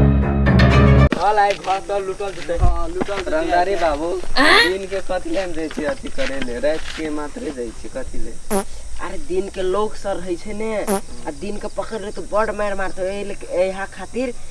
चल आइ घर चल लुटल जेतै हाँ लुटल जेतै। रंगदारी बाबू दिन के कथी ले जाइ छी अथी करे ले रात के मात्र जाइ छी कथी ले अरे दिन के लोग सर रहै छै ने आ दिन के पकड़ ले तो बड़ मार मारते एहि ले- एहा खातिर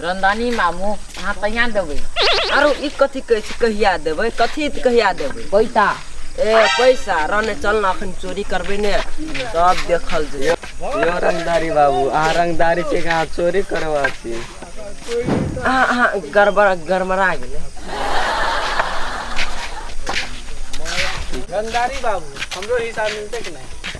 रंदानी मामू अहाँ कहिया देबै आरो ई कथी कहै छै कहिया देबै कथी कहिया देबै पैसा ए पैसा रने चल ना अखन चोरी करबै ने सब देखल जे यो रंगदारी बाबू अहाँ रंगदारी छै अहाँ चोरी करवा छी अहाँ अहाँ गड़बड़ा गड़बड़ा गेलै रंगदारी बाबू हमरो हिसाब मिलते कि नहीं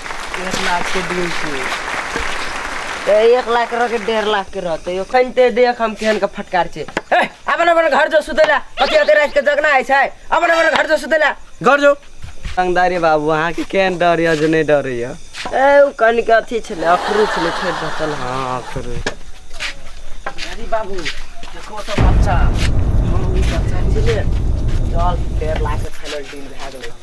एक लाख के डील छी ए, एक लाख के रह के डेढ़ लाख के रहते यो खनते देख हम केहन के फटकार छे ए, अपन अपन घर जो सुतेला अति अति रात के जगना आइ छै अपन अपन घर जो सुतेला घर जो रंगदारी बाबू अहाँ के केहन डर यऽ जे नहि डर यऽ ए उ कन के अथी छले अखरू छले फेर बतल हँ करू अरे बाबू देखो तो बच्चा हम ई बच्चा छले चल डेढ़ लाख के छले डील भए गेलै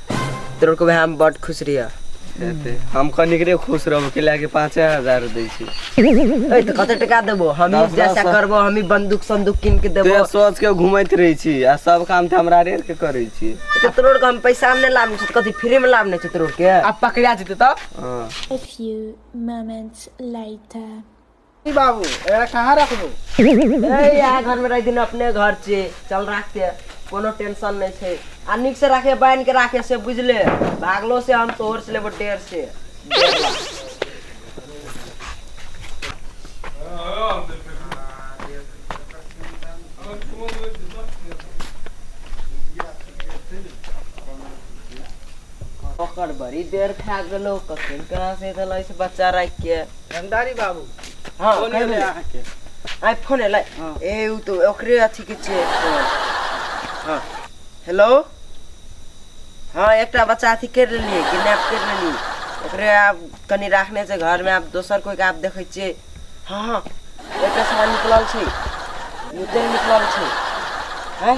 तोर को हम बड खुश रहिया एते हम कनिक रे खुश रहब के लागे 5000 दै छी ए त कते टका देबो हम दस, जैसा दस। करबो हम ही बंदूक संदूक किन के देबो ते सोच के घुमैत रहै छी आ सब काम त हमरा रे के करै छी तो तोर को हम पैसा में नहीं लाभ नहीं कथी फ्री में लाभ नहीं छै तोर के अब पकड़ा जेते तब हाँ A few moments later. ई बाबू एकरा कहाँ रखबू ए यहाँ घर में रह दिन अपने घर छे चल राखते कोनो टेंशन नहीं छे आ निक से राखे बांध के राखे से बुझले भागलो से हम तोहर से लेबो डेढ़ से डेढ़ लाख। ओकर बड़ी देर खा गेलो कखन कहाँ से देलो इस बच्चा रख के रंगदारी बाबू हाँ, फोन कहे एलै बोले। अहाँके आइ फोन एलै हाँ। ए उ तो ओकरे अथी के छै हाँ हेलो हाँ एकटा बच्चा अथी कर लेलिए किडनैप कर लेलिए ओकरे आब कनि राखने छै घर में आब दोसर कोई के आब देखै छियै हाँ हाँ एकटा सामान निकलल छै निकल निकलल छै हैं